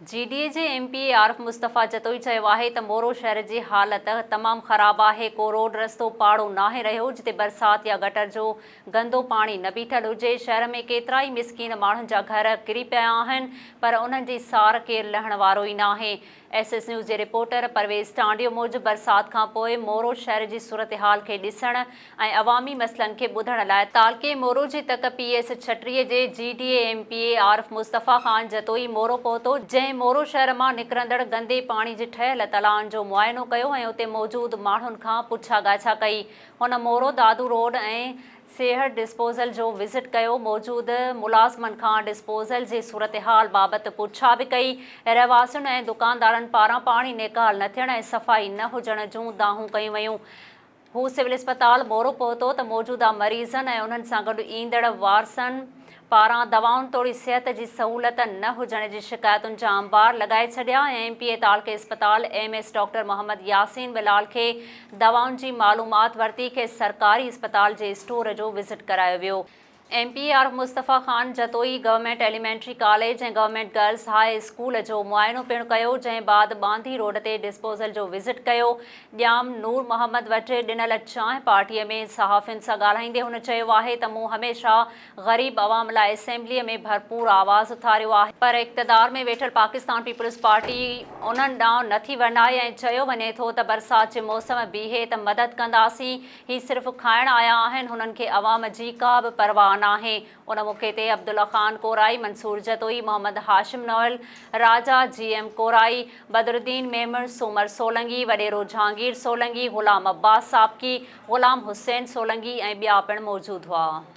جي D A جي M P A Arif Mustafa Jatoi چيو آهي ته مورو شهر جي حالت تمام خراب آهي، ڪو روڊ رستو پاڙو ناهي رهيو جتي برسات يا گٽر جو گندو پاڻي نه بيٺل هجي، شهر ۾ ڪيترائي مسڪين ماڻهن جا گهر ڪري پيا آهن پر انهن جي سار ڪير لهڻ وارو ئي ناهي. ايس ايس نيوز جي رپورٽر پرويز ٽانڊيو موجب برسات کانپوء مورو شهر جي صورتحال کي ڏسڻ ۽ عوامي مسئلن کي ٻڌڻ لاء تعلقي مورو جي تڪ پي ايس ڇٽري جي G D A M P A Arif Mustafa Khan Jatoi Moro پهتو جنهن مورو شهر مان نڪرندڙ گندي پاڻي جي ٺهيل تلائن جو معائنو ڪيو ۽ اتي موجود ماڻهن کان پڇا ڳاڇا ڪئي هن مورو دادو روڊ ۽ سيهڙ ڊسپوزل جو وزٽ ڪيو موجود ملازمن کان ڊسپوزل جي صورتحال بابت پڇا به ڪئي رهواسين ۽ دڪاندارن پاران پاڻي نيڪال نه ٿيڻ ۽ صفائي نه هجڻ جون دانهون ڪيون ويون هو سول اسپتال مورو پهتو ته موجوده مريضن ۽ انهن سان گڏ ايندڙ وارثن پاران دوائن توڙي صحت جي سهولت نه هجڻ جي شڪايتن جا انبار لڳائي ڇڏيا ۽ ايم پي اي تعلقي اسپتال M S doctor Muhammad Yasin ٻلال کي دوائن جي معلومات ورتي کيس سرڪاري اسپتال جي اسٽور جو وزٽ ڪرايو ويو. M P R Mustafa Khan Jatoi government elementary college ۽ government girls high school جو معائنو پڻ ڪيو جنهن بعد ٻانڌي روڊ تي ڊسپوزل جو وزٽ ڪيو ڄام نور محمد وٽ ڏنل چانهه پارٽي ۾ صحافين سان ڳالهائيندي هن چيو آهي ته مون هميشه غريب عوام لاء اسيمبلي ۾ ڀرپور آواز اٿاريو آهي پر اقتدار ۾ ويٺل پاڪستان پيپلز پارٽي انهن ڏانهن نٿي ورنائي ۽ چيو وڃي ٿو ته برسات جي موسم بيهي ته مدد ڪنداسين هي صرف کائڻ آيا آهن، هنن کي عوام جي ڪا به پرواهه ناهي. ان موقعي تي عبدالله خان ڪورائي، منصور جتوئي، محمد هاشم نوحل، راجا، جي ايم ڪورائي، بدرالدين ميمڻ، سومر سولنگي، وڏيرو جهانگير سولنگي، غلام عباس ساپڪي، غلام حسين سولنگي ۽ ٻيا پڻ موجود هئا.